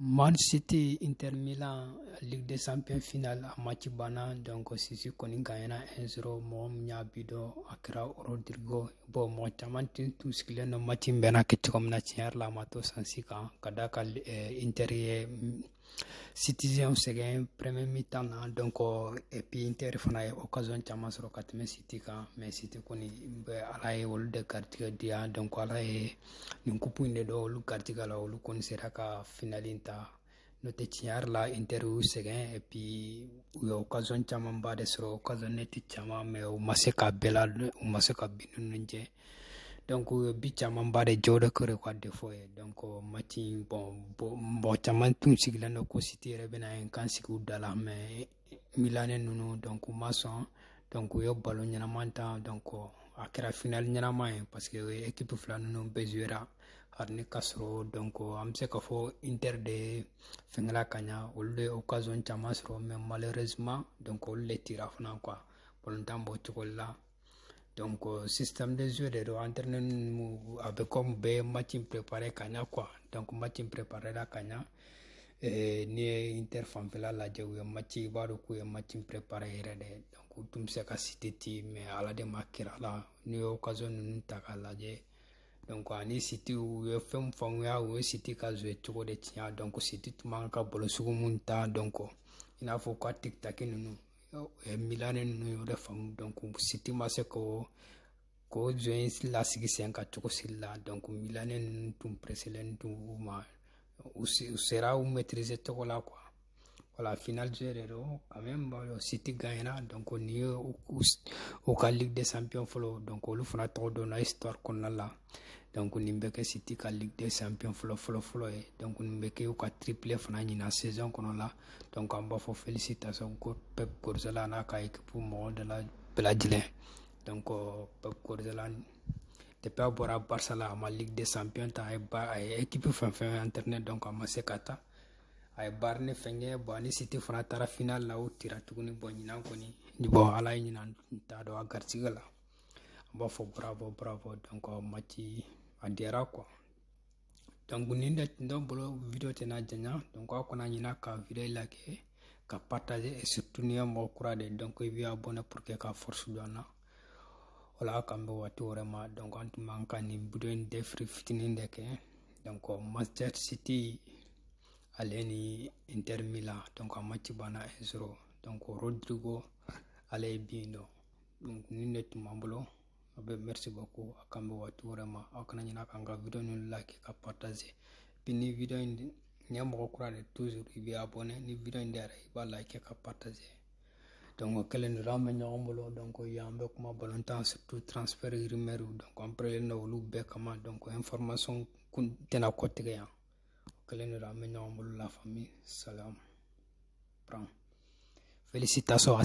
Man City Inter Milan Ligue des Champions finale a match banna donc City kɔni gagna 1-0 mɔgɔ min y'a bi don a kɛra Rodrigo bon mɔgɔ caman tun tun sigilen don match in bɛna kɛ cogo min na tiɲɛ yɛrɛ la a ma to sansi kan ka d'a kan Inter ye Citizen sɛgɛn premier mi-temps na donc et puis Inter fana ye occasion caman sɔrɔ ka tɛmɛ City kan mais City kɔni bɛ Ala ye olu de garijɛgɛ diya donc Ala ye nin kupu in de don olu garijɛgɛ la olu kɔni sera ka finali in ta n'o tɛ tiɲɛ yɛrɛ la inter y'u sɛgɛn epi u ye okazɔn camanba de sɔrɔ okazɔn nɛti caman mɛ u ma se ka bɛɛ la u ma se ka bi ninnu jɛ donc u ye bi camanba de jɛ o de kɛra u ka defɔ ye donc match bon mɔgɔ caman tun sigilen don ko siti yɛrɛ bɛna ye kan sigi u da la mɛ milane ninnu donc u ma sɔn donc u ye balon ɲɛnama tan donc a kɛra final ɲɛnama ye parce que ekipu fila ninnu bɛɛ zuera hali ni ka sɔrɔ donc an bɛ se ka fɔ inter de fɛnkɛla ka ɲa olu de occasion caman sɔrɔ mais malheureusement donc olu de tira fana quoi balontan b'o cogo la donc euh, système de jeu de don entraînement a bɛ comme bɛɛ match in préparé ka ɲa quoi donc match in préparé la ka ɲa eh, n'i ye inter fanfɛla lajɛ u ye match i b'a dɔn k'u ye match in préparé yɛrɛ de donc u tun bɛ se ka siti ti mais ala de ma kira la n'i ye occasion ninnu ta k'a lajɛ donc ani siti u ye fɛn fɛn u y'a u ye siti ka jouer cogo de tiɲɛ donc siti tun man ka balon sugu min tan donc i n'a fɔ u ka tikitaki ninnu milani ninnu y'o de faamu donc siti ma se k'u ka jeu in lasigi sen kan cogo si la donc milani ninnu tun preselen tun u ma u sera u maîtriser cogo la quoi voilà final jeu de don quand même bon, siti gagnera donc nin ye u ka ligue des champions fɔlɔ donc olu fana tɔgɔ donna histoire kɔnɔna la donc nin bɛ kɛ siti ka ligue des champions fɔlɔ fɔlɔ fɔlɔ ye donc nin bɛ kɛ u ka triple fana ɲinan saison kɔnɔ la donc an b'a fɔ félicitation ko pep guardiola n'a ka équipe mɔgɔ de la bɛɛ lajɛlen donc euh, pep guardiola depuis a bɔra barça la a ma ligue des champions ta a ye ba a ye équipe fɛn fɛn entraîner donc a ma se ka ta a ye bayern fɛnkɛ bon a ni siti fana taara final la u tira tuguni bon ɲinan kɔni bon ala ye ɲinan ta don a garisɛgɛ la an b'a fɔ bravo bravo donc match a diyara quoi donc nin de tun t'an bolo video tɛna janya donc aw kana ɲina ka video liker ka partager et surtout n'i ye mɔgɔ kura ye donc i b'i abonné pour que ka force don an na voilà k'an bɛn waati wɛrɛ ma donc an tun b'an ka nin video in débrief fitinin de kɛ donc manchester city ale ni inter milan donc a match banna 1 0 donc rodrigo ale ye bi in don nin de tun b'an bolo aw bɛɛ merci beaucoup a k'an bɛn waati wɛrɛ ma aw kana ɲinɛ k'an ka video ninnu like ka partager puis ni video in n'i ye mɔgɔ kura de toujours i bɛ abonné ni video in diyara i b'a like ka partager donc o kɛlen don an bɛ ɲɔgɔn bolo donc yan an bɛ kuma balontan surtout transfert rumeur donc an parelen don olu bɛɛ kama donc information kun tɛna kɔtigɛ yan o kɛlen don an bɛ ɲɔgɔn bolo la famille salam pran félicitations à